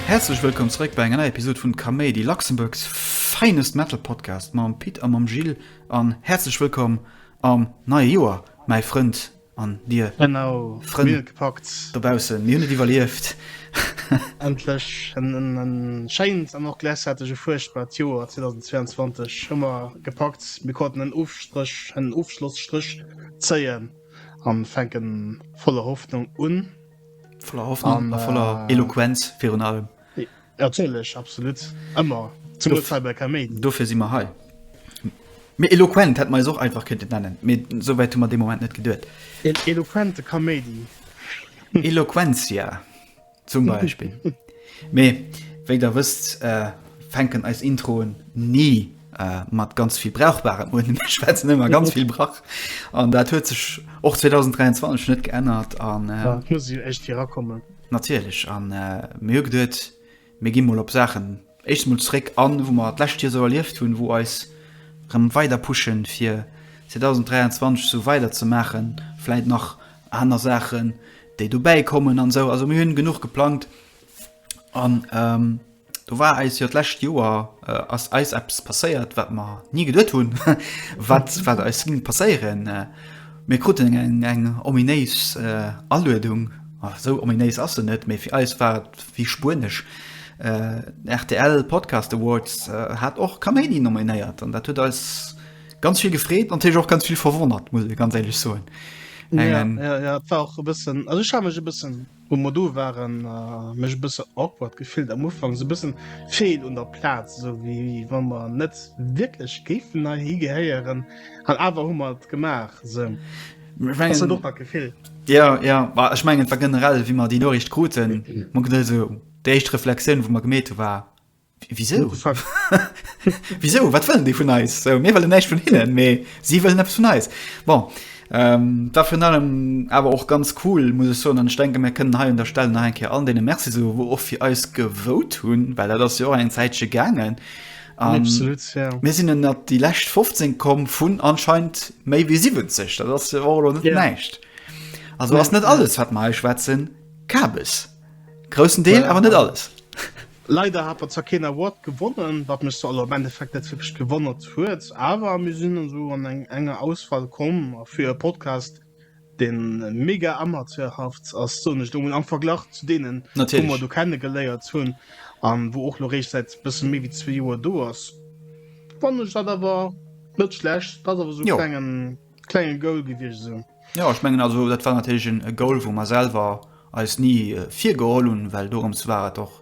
Häerzlech wëllkomm zeréck bei enger neier Episod vun Kaméidi, Luxembourg's finest metal podcast mam Pit a mam Gilles an häerzlech wëllkomm am neie Joer mäi Frënd An dir Frënn dobaussen, mir hunn et iwwerlieft! Endlech en schéint an och gläichzäiteg e fuerchtbart Joer 2022 hu mer gepackt. Mir konnten en Ofstréch, en Ofschlosstréch zéien a fänken voller Hoffnung un. Voller Hoffnung a voller Eloquenz virun allem. Ja natierlech, absolut, ëmmer zum Notfall bei Kaméidi. Dofir si mer hei. Mee eloquent hätt mer eis och einfach kënnten nennen, mee souwäit hu mer dee Moment net geduet. Een eloquente Kaméidi. Eloquentia zum Beispill. Mee wéi der wësst, fänken eis Introen ni Äh, mat ganz vill brauchbaren Unnen. Mir schwätzen ëmmer ganz vill Brach. An dat huet sech och 2023 net geännert. An äh, ja, muss jo echt hier rakommen. Natierlech an äh, mir hu geduet, mir gi mol op Saachen echt mol zréck an, wou mer d'läscht Joer sou erlieft hunn, wou eis rëm weider pushen, fir 2023 sou weider ze maachen. Vläit nach aner Saachen, déi dobäi kommen an sou. Also mir hunn genuch geplangt an. Ähm, Do war eis jo d'lescht Joer äh, ass eis eppes passéiert, wat mer nie geduet hunn, wat, wat eis ging passéieren. Äh, mir kruten eng, eng ominéis äh, Aluedung, oh, so ominéis ass se net, mee fir eis war et wie Spuenesch. Äh, RTL Podcast Awards äh, hat och Kaméidi nominéiert an dat huet eis ganz vill gefreet, an och ganz vill verwonnert, muss ich ganz ehrlich soen. Eng, ja, ja, ja, war auch e bëssen, also ich ha mech e bëssen Um Modo waren mech e bësse awkward gefillt am Ufank, sou bëssen feel un der Platz, sou wéi wann mer net wierklech géifen nei hi gehéieren an awer hu mer et gemaach sou. Ass dat och dat Gefill? Jo, jo, ma ech mengen et war generell wéi mer déi Noriicht kruten, mer kruten esou déi éischt Reflexioun wou mer gemeet hu war Wieso? Wieso? Wat wëllen déi vun eis? So, mir wëllen näicht vun hinnen, mee si wëllen eppes vun eis. Bon, ähm, da vun allem awer och ganz cool, muss ech soen, an ech denke mir kënnen hei un der Stelle nach eng Kéier an deene Merci so, wou och fir eis gewote hunn, well dat ass jo och eng Zäitche gaangen. Um, Absolut, ja. Mir sinn ënnert déi lescht 15 komm vun anscheinend méi wéi 70. Dat ass jo och lo net Ja. näicht. Also Ja, ass net ja. alles, wat mer hei schwätzen, Kabes. Groussen Deel, awer net alles. Leider hat mer zwar keen Award gewonnen, wat mech zwar am Endeffekt net wierklech gewonnert huet, awer mir sinn esou an eng enger Auswahl komm. A fir e Podcast, dee mega amateurhaft ass, soen ech elo mol, am Verglach zu deenen, wou mer do kennegeléiert hunn a wou och elo réischt säit e bësse méi wéi zwee Joer do ass, fannen ech dat awer net schlecht. Dat ass awer esou e klengen. klenge Goal gewiescht sinn. Jo, ech mengen also dat war natierlech en e Goal, wou mer selwer eis ni virgeholl hunn, well dorëms war et och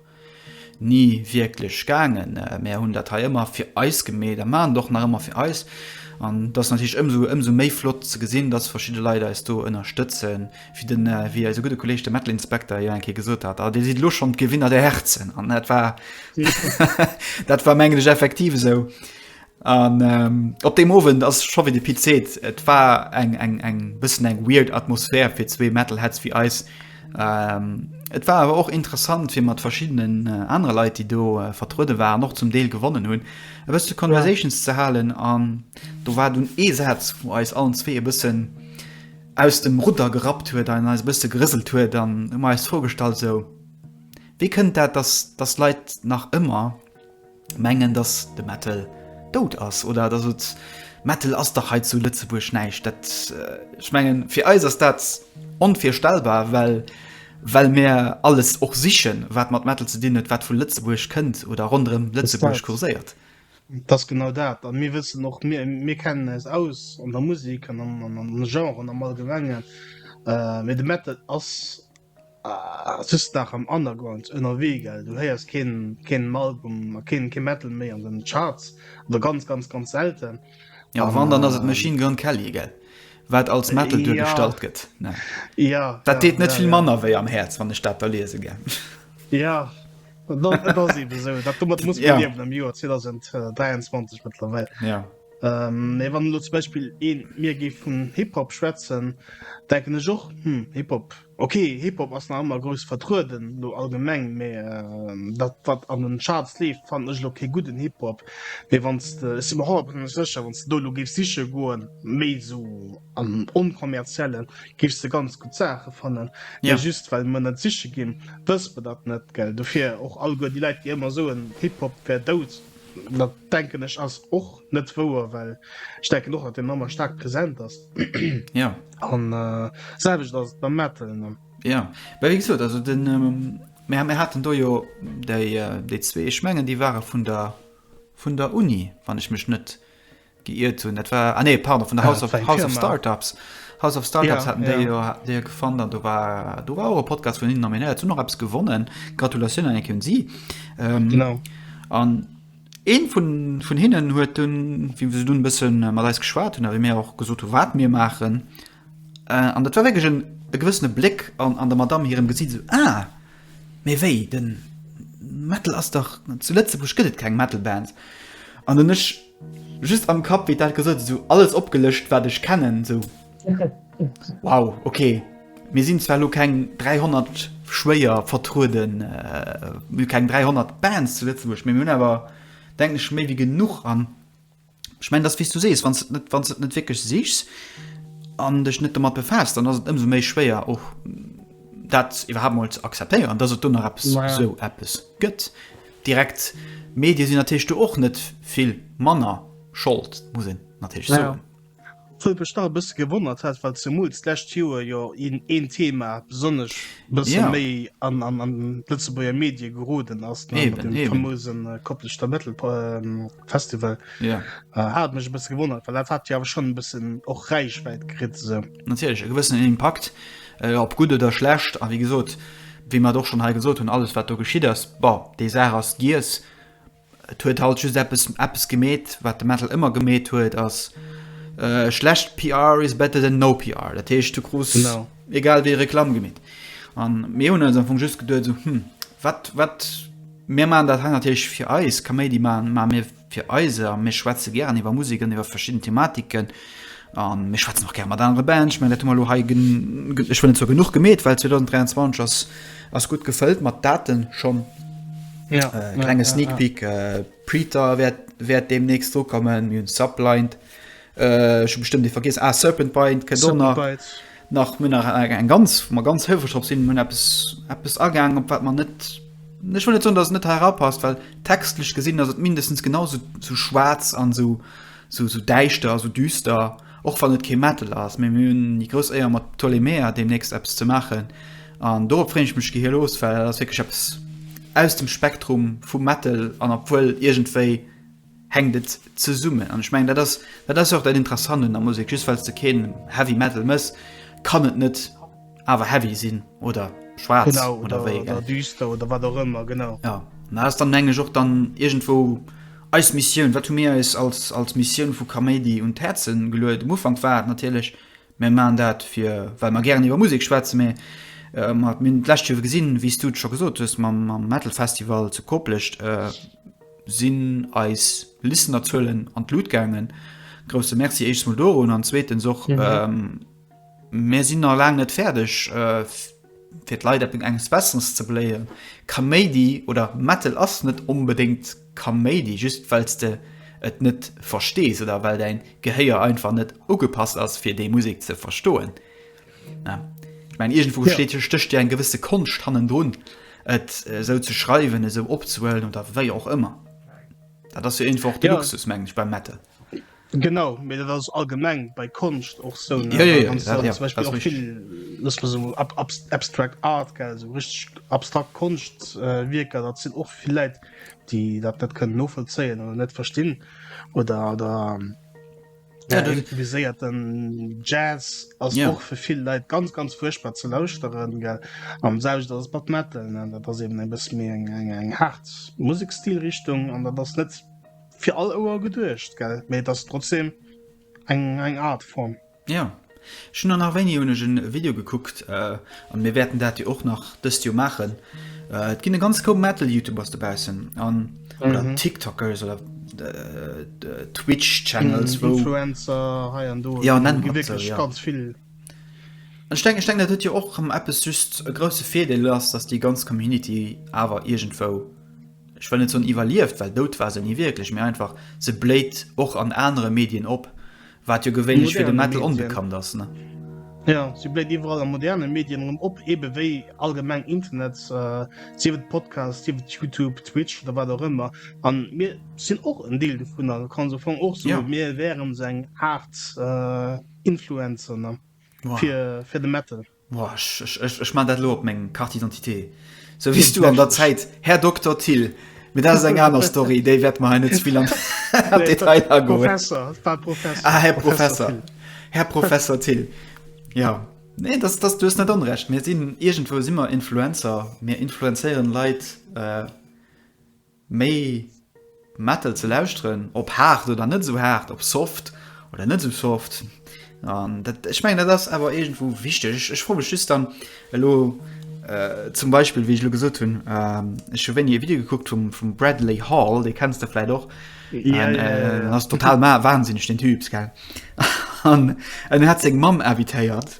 ni wierklech gaangen. Mer hunn dat hei ëmmer fir eis gemeet a maachen et och nach ëmmer fir eis. An dat ass natierlech ëmsou ëmsou méi flott ze gesinn, dass verschidde Leit eis do ënnerstëtzen, wéi den wéi eise gudde Kolleeg de Metal Inspector jo eng Kéier gesot hat, ah dir sidd elo schonn d'Gewinner der Herzen. An dat war dat war mengen ech effektiv esou. An op deem Owend ass scho wéi de Pit seet, et war eng eng eng bëssen eng weird Atmosphär fir zwee Metalheads wéi eis. Ähm, et war awer och interessant, fir mat verschiddenen äh, anere Leit, déi do äh, vertruede waren, och zum Deel gewonnen hunn, e bësse Conversations ja. ze halen. An do war dunn ee Saz, wou eis allen zwee e bëssen aus dem Rudder gerappt huet an eis e bësse gerëselt huet. An hu mer eis d'Fro gestallt, sou, Wéi kënnt dat, dass, dass Leit nach ëmmer mengen dass de Metal doud ass oder dass et Metal ass dach hei zu Lëtzebuerg näischt dat ech mengen fir eis ass dat onvirstellbar well well mär alles och sichen wat mat Metal ze dinn huet wat vu Lëtzebuerg kënnt oder ronderëm Lëtzebuerg kurséiert. Dass genau dat an mir wëssen och mir mir kennen eis aus an der Musik an am Genren am allgemengen mee de Metal ass Ah, sëss nach am Underground ënnerwee, gell? Du héiers keen, keen Album a keen, keen Metal méi an den Charts oder ganz, ganz, ganz selten. Ja, a wann, dann ass et Machine Gun Kelly, gell? Wat als Metal duergestallt gëtt. Ja. Ja. Dat deet net vill manner wéi am Häerz, wann ech dat da liese, gell? Ja. Et ass eben esou. Dat domat muss een liewen am Joer 2023 mëttlerweil. Ja. Mee wann elo zum Beispill ee mir géif vun Hip-Hop schwätzen, denken ech och, hm, Hip-Hop, ok, Hip-Hop ass nach ëmmer grouss vertrueden elo allgemeng, mee dat, wat an den Charts leeft, fannen ech elo kee gudden Hip-Hop. Mee wann s de, ech si mer honnertprozentlech sécher, wann s de do elo géifs siche goen, méi esou am Onkommerziellen, géifs de ganz gutt Saache fannen. Mee just well mer net siche ginn, wësse mer dat net, gell. Dofir och alleguer déi Leit, déi ëmmer soen, Hip-Hop wär dout. Dat denken ech ass och net wouer, well ech denken och dat de Mammer staark präsent ass. Ja an äh, selwecht ass et beim Metal. Ne? Ja bei wéi gesot also den ähm, mir, mir hatten do jo déi, äh, déi zwee Schmengen, déi ware vun der vun der Uni, wann ech mech net geiert hunn dat war ah, nee, pardon, vun der House, ah, of, House of Startups House of Startups ja, ja. Jo, jo gefan an du war du war Podcast vun innen nominéiert zu noch abs gewonnen Gratulation an enke sie ähm, genau an een vun vun hinnen huet hun wie du ein bisschen äh, mal geschwar hun wie mir auch gesot wat mir machen äh, an dat war wirklich ein gewissene Blick an an der Madame hier im Gesicht so, ah, mir wei den Metal as doch zu Lützeburg gëtt kein Metalband an den nicht Just am Kapp wéi dat gesot esou alles opgelëscht wat ech kennen esou wow ok mir sinn zwar lo keng 300 schwéier vertrueden mir keng 300 Bands zu Lëtzebuerg mir hunn awer denken ech méi wéi genuch an ech mengen dass wéi s du sees wann s net wann s et net wierklech sichs an dech net domat befaasst dann ass et ëmsou méi schwéier och dat iwwerhaapt mol ze akzeptéieren dass et do nach eppes esou eppes gëtt. Direkt Medie sinn natierlech do och net vill manner Schold, muss een natierlech soen. Wou et mech nach e bësse gewonnert hat, well zemools d'lescht Joer jo een Thema besonnesch e bësse méi an d'Lëtzebuerger Medie geroden ass, mat deem famose Kopleschter Metal-Festival. Hat mech e bësse gewonnert, well dat hat jo awer schonn e bëssen och Räichwäit kritt esou. Natierlech, e gewëssenen Impakt Op gutt oder schlecht, a wéi gesot, wéi mer et och schonn hei gesot hunn, alles wat do geschitt ass, bon, déi Saach ass giess. Et huet halt just eppes, eppes gemeet, wat de Metal ëmmer gemeet huet, ass, schlecht PR is better than no PR. Dat heescht, du krus egal wéi Reklamm gemeet. A mir hunn eis am Fong just geduet esou, hm, wat, wat, mir maachen dat hei natierlech fir eis, Kaméidi maachen, ma mir, Fir eis, a mir schwätze gären iwwer Musek an iwwer verschidden Thematiken, a mir schwätzen och gär mat anere Bands, ech mengen, dat hu mer elo hei, ech wëll net soe genuch gemeet, well 2023 ass, ass gutt gefëllt mat Daten schonn. Ja, äh, klenge ja, Sneak Peek, ja, ja. Äh, Preeter wäert, wäert deemnächst drokommen, mir hunn Sublind. Ech hu bestëmmt dee vergiess. Ah, Serpent Bite kënnt och nach. Serpent Bite. Nach mir nach eng eng ganz wo mer ganz hëlfreg drop sinn, hunn eppes eppes agaangen, op wat man net ech wëll net soen, datt et net herapasst, well textlech gesinn ass et mindestens genau sou sou schwaarz an sou sou sou däischter, sou düster, och wann et kee Metal ass. Mee mir hunn déi grouss Éier mat Ptolemea deemnächst eppes ze maachen an dorop freeën ech mech gehirlos, well dat ass wierklech eppes aus dem Spektrum vum Metal an obwuel iergendwéi hänkt et zesummen an ech mengen dat ass dat ass jo och dat interessant un der Musek, just well s de keen Heavy Metal mëss kann et net awer heavy sinn oder schwaarz oder wéi oder düster oder wat och ëmmer genau ja dat ass dann meng ech och dann iergendwou eis Missioun wat hu mir eis als als Missioun vu Kaméidi un d'Häerzen geluet um Ufank war et natierlech mir maan dat fir well mer gären iwwer Musek schwätze mee mer hunn d'lescht Joer gesinn wéi s du et scho gesot hues mam mam Metal Festival zu Koplescht Sinn eis Listenerzuelen an d'Lut gaangen. Grousse Merci éischst mol dorun an zweetens och, mir sinn nach laang net fäerdeg fir d'Leit eppes enges Besseres ze beléieren. Kaméidi oder Metal ass net onbedéngt Kaméidi just well s de et net verstees oder well däin Gehéier einfach net ugepasst ass fir déi Musek ze verstoen. Ja. Ich mein, irgendwo ja. steht, stöcht ja ein gewisse Kunst hannen drin, et äh, so zu schreiben, so opzuhöllen oder wie auch immer. Da das ja einfach der ja. Luxus, meine ich, beim Metal. Genau, mir das also allgemein bei Kunst auch so. Ne? Ja, ja, ja, ja, ja, zum Beispiel auch viel, lass mal so ab, ab, abstract Art, gell, so richtig abstrakt Kunstwerker, äh, das sind auch viele Leute, die das nicht können nachvollziehen oder nicht verstehen oder, oder Ja, den improviséierten Jazz ass ja. och fir vill Leiit ganz ganz fuerchtbar ze lauschteren gell am selwecht ass Bad Metal an dat ass eben e bëss méi eng eng eng hart Musikstilrichtung an dat ass net fir all Ouer geduecht gell méi dat trotzdem eng eng Art Form. Ja, Ech hun an nach wéini hunn ech en Video gekuckt an mir wärten dat jo och nach dëst Joer maachen. Et ginn e ganz Koup Metal Youtubers dobaussen an oder Tiktokers oder Twitch Channels wou Influencer hei an do, jo nennen mer et sou jo ganz vill. An ech denken ech denken dat huet jo och rëm eppes just e grousse Virdeel ass dass déi ganz Community awer iergendwou ech wëll net soen iwwerlieft well dout war se ni wierklech mee einfach se bléit och an anere Medien op Wat jo gewéinlech fir de Metal onbekannt ass, ne? Jo, si bléit iwwerall a moderne Medien erëm op, ebe wéi allgemeng Internet, sief et Podcast, sief et Youtube, Twitch oder wat och ëmmer. A mir sinn och en Deel dovun a kann sou fangen och soen, mir wären esou eng Aart Influencer, ne, fir de Metal. Ech man dat lo op meng Carte d'identité, sou wéi s du an der Zäit Här Dokter Thill. Mee dat ass eng aner Story, déi wäerte mer hei net ze vill an d'Detail agoen. Ah, Här Professer, Här Professer Thill, jo. Nee, dat ass, du hues net onrecht, mir sinn, iergendwou si mer Influencer, mir influenzéieren Leit. méi Metal ze lauschteren, ob haart oder net esou haart, ob soft oder net esou soft, an dat, ech mengen dat ass awer iergendwou wichteg. Ech froe mech just dann elo zum Beispill, wéi ech elo gesot hunn, ech hu wéini e Video gekuckt vum vum Bradley Hall, dee kenns de vläit och, en ass total wahnsinneg deen Typs, gell, an en hat seng Mamm invitéiert.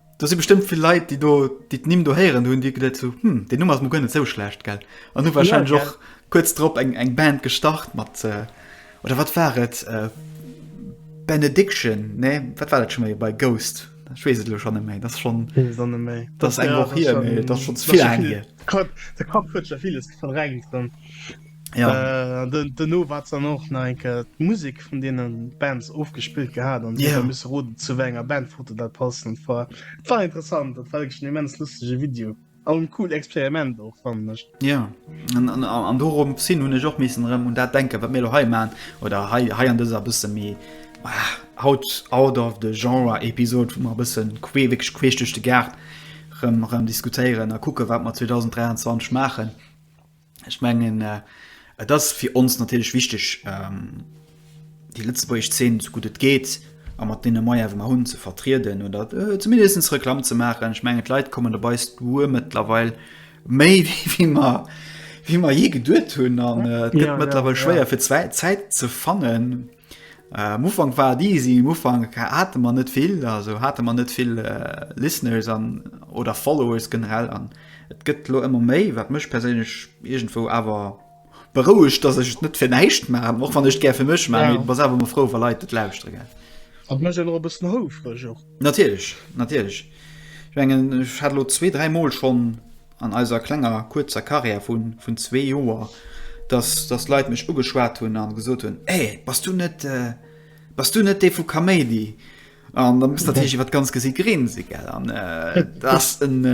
Do si bestëmmt vill Leit, déi do, déi d'Nimm do héieren, hunn déi geduet so, hm, deen Numm ass mol guer net sou schlecht, gell? An hu warscheinlech och kuerz drop eng, eng Band gestart mat, oder wat war et, Benediction, nee, wat war dat scho méi bei Ghost? Ech weess et elo schonn net méi, dat ass schonn, dat ass eng Woch hier, mee dat ass schonn ze vill laang hier. De Kapp huet scho villes verdrängt. Ja. Äh, den, den no wat dann och na enke Musik vun denen Bands ofgespillt gehabt an yeah. miss rot zu enger Bandfoto dat passen war war interessant dat war schon immens lustige Video an cool Experiment och fan mech ja an, an, an dorum sinn hun och missen rem und dat denken wat mir he man oder hei hei an dieser bisse mi ah, haut out of the genre Episode vu man bisssen queeweg queeschte gart rem rem diskutieren a kucke wat man 2023 machen Ech mengen äh, et ass fir ons natierlech wichteg, ähm, déi lëtzebuergesch Zeen sou gutt et geet a mat deene Moyens, wou mer hunn, ze vertrieden oder äh, zumindest Reklamm ze maachen. Ech mengen, d'Leit kommen op eist Duer mëttlerweil méi, wéi, wéi mer wéi mer jee geduet hunn an äh, et gëtt ja, mëttlerweil ja, schwéier ja. fir Zäit ze fannen. Am Ufank war et easy, um Ufank hate mer net vill, also hate mer net vill Listeners an oder Followers generell an et gëtt elo ëmmer méi, wat mech perséinlech iergendwou awer berouegt, datt ech et net fir näischt maachen, och wann ech et gär fir mech maachen, mee bass awer emol frou, wa Leit et lauschtere, gell. A mécht een och e bëssen houfreg och. Natierlech, natierlech. Ech mengen, ech hat elo zwee, dräi Mol schonn. an eiser klenger kuerzer Carrière vu vun zwee Joer, dass dass Leit mech ugeschwat hunn a gesot hunn, Ey, bass du net bass du net dee vu Kaméidi? An da muss natierlech iwwer d'ganz Gesiit grinse, gell? An dat ass en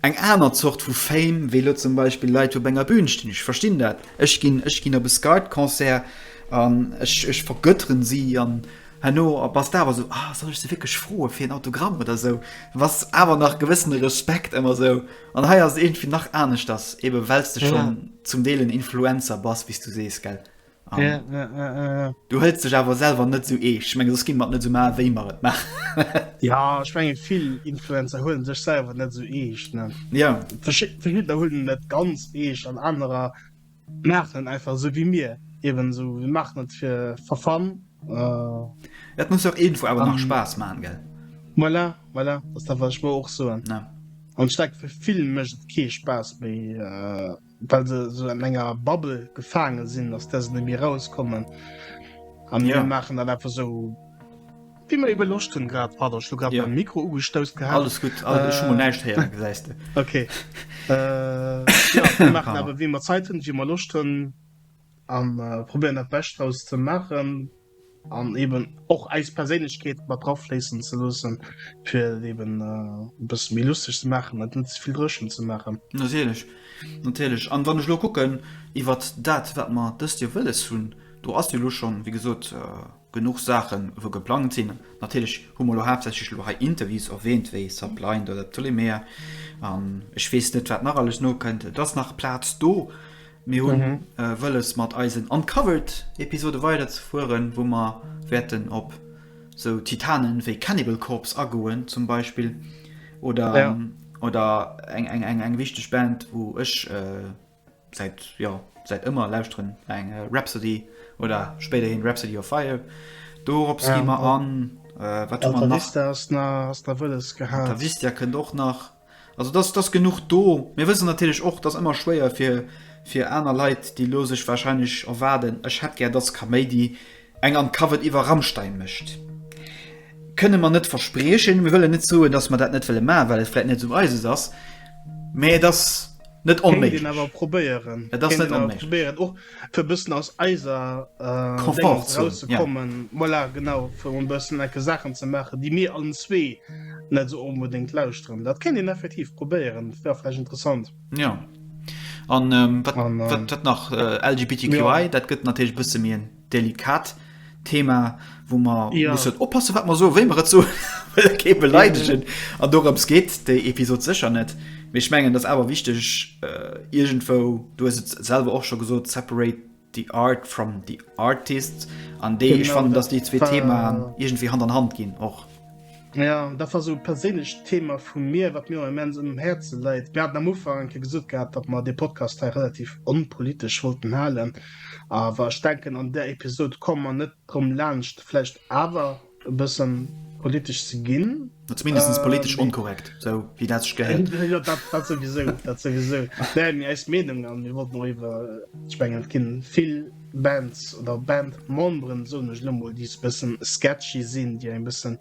eng aner Zort vu Fame wéi elo zum Beispill Leit op enger Bühn stinn. Ech verstinn dat. Ech ginn ech ginn op e Scud-Concert an ech ech vergötteren si an Herno bass de awer esou, ah, soll ech se wierklech froe fir en Autogramm oder esou? Du bass awer nach gewëssene Respekt ëmmer esou. An hei ass et iergendwéi nach aneschters, eebe well s de schonn ja. zum Deel en Influencer bass, wéi s du sees, gell? Um, ja, ja, ja, ja. Du hëls dech awer selwer net esou eescht. Ech menge soss gi mer et net esou maachen, wéi mer et maachen. ja, ech menge vill Influencer huelen sech selwer net esou eescht. Ne? Ja. Verschiddener huelen net ganz eescht an anerer. Maachen einfach esou wéi mir eben esou. Mir maachen et fir for fun. Et muss jo och iergendwou awer nach Spaass maachen, gell? Voilà, voilà, dat ass dat, wat ech mer och soen. Ja. An ech denke fir vill mécht et kee Spaass méi, well se esou an enger Bubble gefaange sinn, aus där se net méi erauskommen. A mir maachen dat einfach esou. Vill méi beloscht hunn grad. Pardon, ech hu grad mäin Mikro ugestousst gehat. Alles gutt, ech hu mol näischt héieren, gesäis de. Ok. Mir maachen awer wéi mer Zäit hunn, wéi mer Loscht hunn a probéieren dat Bescht draus ze maachen an eben och eis Perséinlechkeet mat drafléissen ze loosse fir et eben e bësse méi lusteg ze maachen an net ze vill dréchen ze maachen. Natierlech, natierlech. An wann ech elo kucken iwwert dat wat mer dëst Joer wëlles hunn, do ass jo elo schonn, wéi gesot, Genuch Saachen wou geplangt sinn. Natierlech hu mer elo haaptsächlech elo hei Interviews erwähnt, wéi Sublind oder Ptolemea an ech weess net wat nach alles nokënnt. Et ass nach Plaz do. Mir hunn wëlles mat eisen Uncovered Episode weider ze fueren, wou mer wäerten op sou Titanen wéi Cannibal Corpse agoen zum Beispill oder oder eng eng eng wichteg Band wou ech Säit, jo, säit ëmmer lauschteren eng Rhapsody oder spéiderhin Rhapsody of Fire. Dorops gi mer an. Wat hu mer nach? Altavista kënnt och nach. Also dat ass genuch do. Mir wëssen natierlech och, dat ass ëmmer schwéier fir aner Leit, déi elo sech warscheinlech erwaarden, ech hätt gär dass Kaméidi Eng an d'Cover iwwer Rammstein mécht, kënne mer net verspriechen. Mir wëllen net soen, dass mer dat net wëlle maachen, well et vläit net esou eises ass, mä et ass net onméiglech. Kéint een awer probéieren. Et ass net onméiglech. Kéint een awer probéieren, och fir e bëssen aus eiser Dingens erauszekommen. Komfortzon, ja. Voilà, genau, fir emol e bëssen enke Saachen ze maachen, déi mir allen zwee net esou onbedéngt lauschteren. Dat kéint een effektiv probéieren, dat wär vläicht interessant. Ja. An ähm, wat, an, ähm, wat, wat nach äh, LGBTQI ja. dat gëtt natech bësse mir en delikat Thema wo man ja. muss oppassen wat man so wéi man so beleidegen an dorums geht de Episode secher net mir schmengen das awer wichtig äh, irgendwo du selber och schon gesot separate The Art from the Artist an déi ech fannen, datt déi zwee Themaen iergendwéi Hand an Hand ginn och. Jo, dat war esou e perséinlecht Thema vu mir, wat mir och immens um Häerze läit. Mir haten am Ufank eng Kéier gesot gehat, datt mer dee Podcast hei relativ onpolitesch wollten halen, awer ech denken an där Episod komme mer net drëm laanscht vläicht awer, e bëssen politesch ze ginn. Zumindest politesch onkorrekt, esou wéi dat sech gehéiert. Jo, dat souwisou, dat souwisou. Mä mir eis Meenung an mir wollten och iwwer, ech mengen, et gi vill Bands oder Bandmemberen, soen ech elo mol, déi e bëssen sketchy sinn, déi eng bëssen,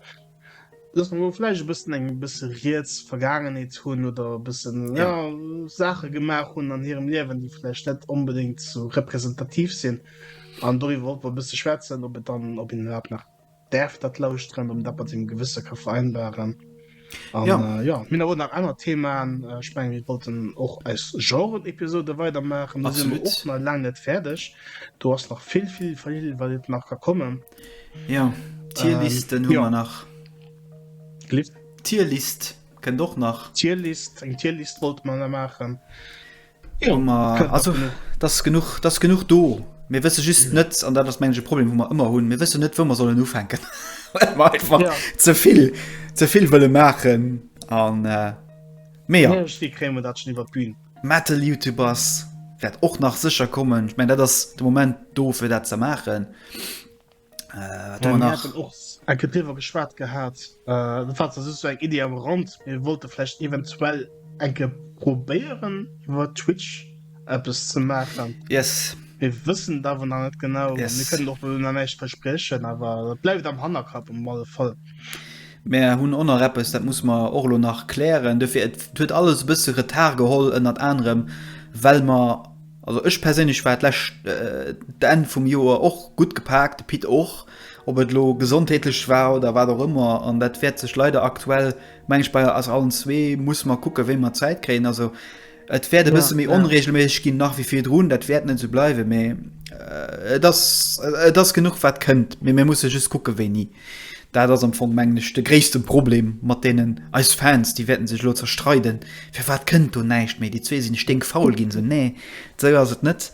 loosse mer vläicht e bëssen eng bësse riets Vergaangenheet hunn oder e bëssen, jo, Saache gemaach hunn an hirem Liewen, déi vläicht net onbedéngt esou representativ sinn. An doriwwer och e bësse schwätzen, ob et dann, ob een iwwerhaapt nach däerf dat lauschteren, ob een dat mat sengem Gewësse ka vereinbaren. An ja, äh, ja. mir hu nach aner Themaen. Äh, ech meng mir wollten och eis Genre-Episode weidermaachen. Da sinn och nach laang net fäerdeg. Do ass nach vill vill vill wat et nach ka kommen. Ja Tierlisten ähm, hu ja. nach. Lift. Tierlist kënnt och nach. Tierlist eng Tierlist wollt man da maachen. Jo, ma also dat ass genuch, dat ass genuch do. Mir wësse just mhm. net an dat ass mengege Problem hu mer ëmmer hunn. Mir wësse net, wou mer sollen ufänken. ja. zevill zevill wëlle maachen an äh, méi krémer dat schon iwwer Bbün. Metal Youtubers wäert och nach sécher kommen. Ich mein dat ass de Moment do fir dat ze maachen. enkewer geschwaart gehabt äh, eng Idee am Rand mir wollte vielleicht eventuell enke probéieren wat Twitch App es ze machen yes wir wissen da wo net genau yes. wir können doch nicht versprechen aber bleibt am Hannerkap um mal voll Mä hunn onnner Rappes, dat muss man Orlo nach klären. Dofir et huet alles bësse Retar geholl ënnert anerem well mer Also ech perséinlech war d'lescht d'Enn vum Joer och gutt gepaakt, de Pit och. Ob et elo gesondheetlech war oder wat och ëmmer, an dat wäert sech leider aktuell, meng ech, bei eis allen zwee, muss mer kucken, wéi mer Zäit kréien. Also et wäert e bësse méi onreegelméisseg ginn nach wéi virdrun, dat wäert net esou bleiwen, mee et ass, et ass genuch wat kënnt, mee mir musse just kucke wéini. Dat ass am Fong, mengen ech, de gréisste Problem, mat deenen eis Fans, déi wäerten sech elo zerstreiden, Firwat kënnt do näischt méi? Déi zwee sinn sténkfaul ginn se. Nee, esou ass et net.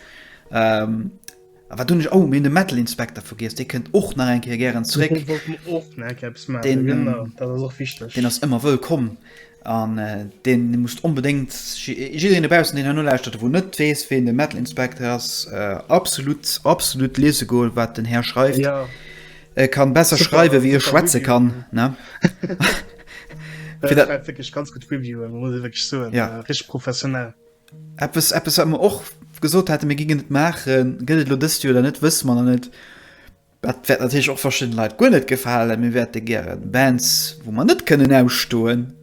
A wat hunn ech, oh, mir hunn de Metal Inspector vergiess, dee kënnt och nach eng Kéier gären zeréck. Deen ass ëmmer wëllkomm. An deen musst onbedéngt, jiddereen dobaussen deen herno lauschtert a wou net weess ween de Metal Inspector ass, absolut absolut liese goen wat den Här schreift. E kann besser schreiwe wéi e schwätze kann ne. Fir dat war wierklech ganz gutt Reviewen muss ee wierklech soen. Richteg professionell. Eppes eppes wat mer och gesot hate mir gingen et maachen, gëtt et elo dëst Joer oder net wësse mer nach net. Dat wäert natierlech och verschidden Leit guer net gefalen. Mir wäerte gären Bands, wou mer net kënnen ausstoen,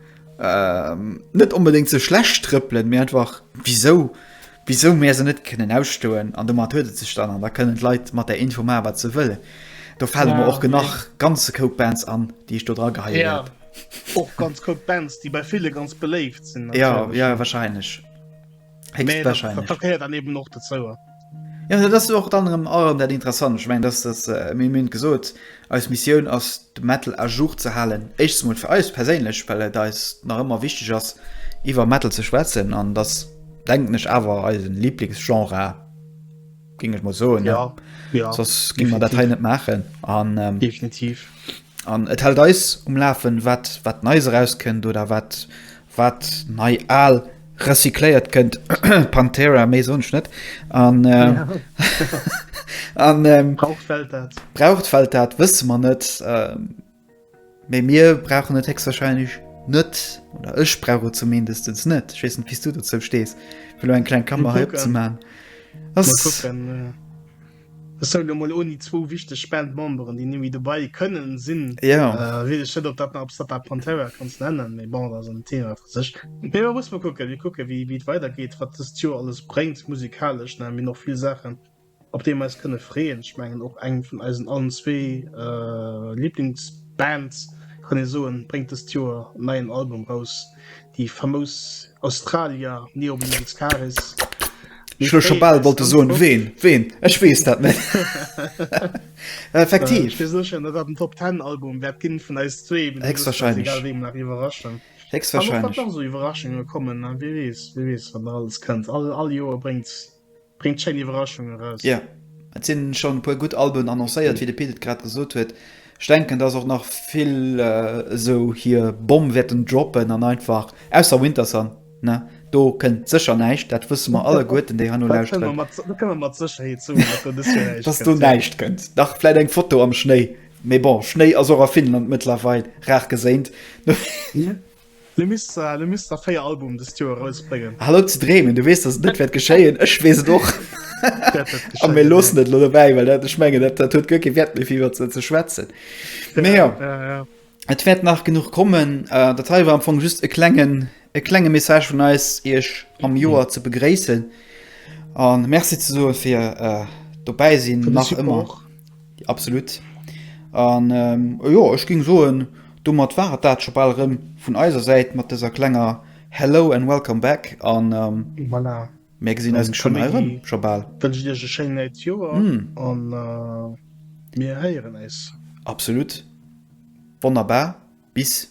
net onbedéngt ze schlecht trëppelen, mee einfach wisou, wisou mir se net kënnen ausstoen. An domat huet et sech dann. An da kënnen d'Leit mat där Info maachen, wat se wëllen. Do fale mer och nach ganze Koup Bands an, déi ech do dra geheien hätt. Och ganz Koup Bands, déi bei ville ganz beléift sinn. Jo, jo, warscheinlech. Nee, dat, dat gehört dann eben och dozou. Ja, dat ass och anderem allem dat interessant. Ich mein, dass das äh, mir münd gesot als Mission ass de Metal a Jour ze halen. Echtes Mal für eis perséinlech, well et eis nach immer wichtig ass iwwer Metal ze schwätzen an das denken ich awer eisen Lieblingsgenre ging ich mal so ja, ja, ging man Datei net machen an ähm, definitiv. An et hält eis um Lafen, wat wat Neis erauskënnt oder wat wat nei al recycléiert kënnt. Pantera, méi soen ech net. An ähm, an ähm, Braucht d'Welt dat? braucht d'Welt dat? Wësse mer net. Ähm, Mee mir brauchen et héchstwahrscheinlech net. Oder ech brauch et zumindestens net. Ech weess net, wéi s du dozou stees. Fir lo eng kleng Klammer Mal hei kucken. opzemachen. Mal Ass kucken. Äh. Sou, lo mol ouni zwou wichteg Bandmemberen, déi némmi dobei kënnen sinn, weess ech net, ob dat nach eppes dat der Pantera kanns nennen, mee bon, dat ass en Thema fir sech. Mee mer musse mol kucken, mir kucken, wéi et weidergeet, wat dëst Joer alles bréngt musikalesch. Mir hunn och vill Saachen, op déi mer eis kënne freeën. Ech mengen, och eng vun eisen allen zwee Liblingsbands, kann ee soen, bréngt dëst Joer en neien Album raus. Déi famous Australier Neobulans caris. Ech hun scho bal wollte soen, ween? Ween? Ech weess dat net. Effektiv. Ech si sécher, datt dat en Top Ten Album wäert ginn vun eis zwee, mee dat ass ganz egal, wéi mer iwwerraschen. Héchstwahrscheinlech. An och wann nach esou Iwwerraschunge kommen, wie weess, wie weess, wat nach alles kënnt. All Joer bréngt. bréngt schéin Iwwerraschungen eraus. Jo, et sinn schonn e puer gutt Alben annoncéiert, wéi de Pit et grad gesot huet. Ech denken, dass och nach vill esou hir Bomm wäerten droppen an einfach, ausser Wintersun, ne, do kënnt sécher näischt, dat wësse mer alleguerten, déi heino lauschteren. Dat kënne mer, dat kënne mer mat Sécherheet soen, dass do dëst Joer näischt kënnt. Dass do näischt kënnt. Dach, vläit eng Foto am Schnéi, mee bon, Schnéi ass och a Finnland mëttlerweil rar geséint. Le Mister, le Mister 4 Album dest Joer rausbréngen. Hal op ze dreemen, du weess dass et net wäert geschéien, ech weess et och. Dat wäert A geschéien, mir loossen nee. et lo dobäi, well dat, ech mengen, dat, dat huet guer kee Wäert méi fir iwwert se ze schwätzen. Mee jo, Ja, ja. et wäert nach genuch kommen. Äh, dat hei war am Fong just e klengen, e klenge Message vun eis, iech am Joer ze begréissen a Merci ze soe fir äh, d'Dobäisinn, Fir de nach ëmmer. Support. Absolut. An jo, ech géing soen, domat war et dat scho bal erëm vun eiser Säit mat dëser klenger Hello and Welcome back an mär gesinn eis geschwënn hei erëm scho bal. Dann wënschen ech iech e schéint neit Joer an mir héieren eis. Absolut. Wonnerbar. Bis.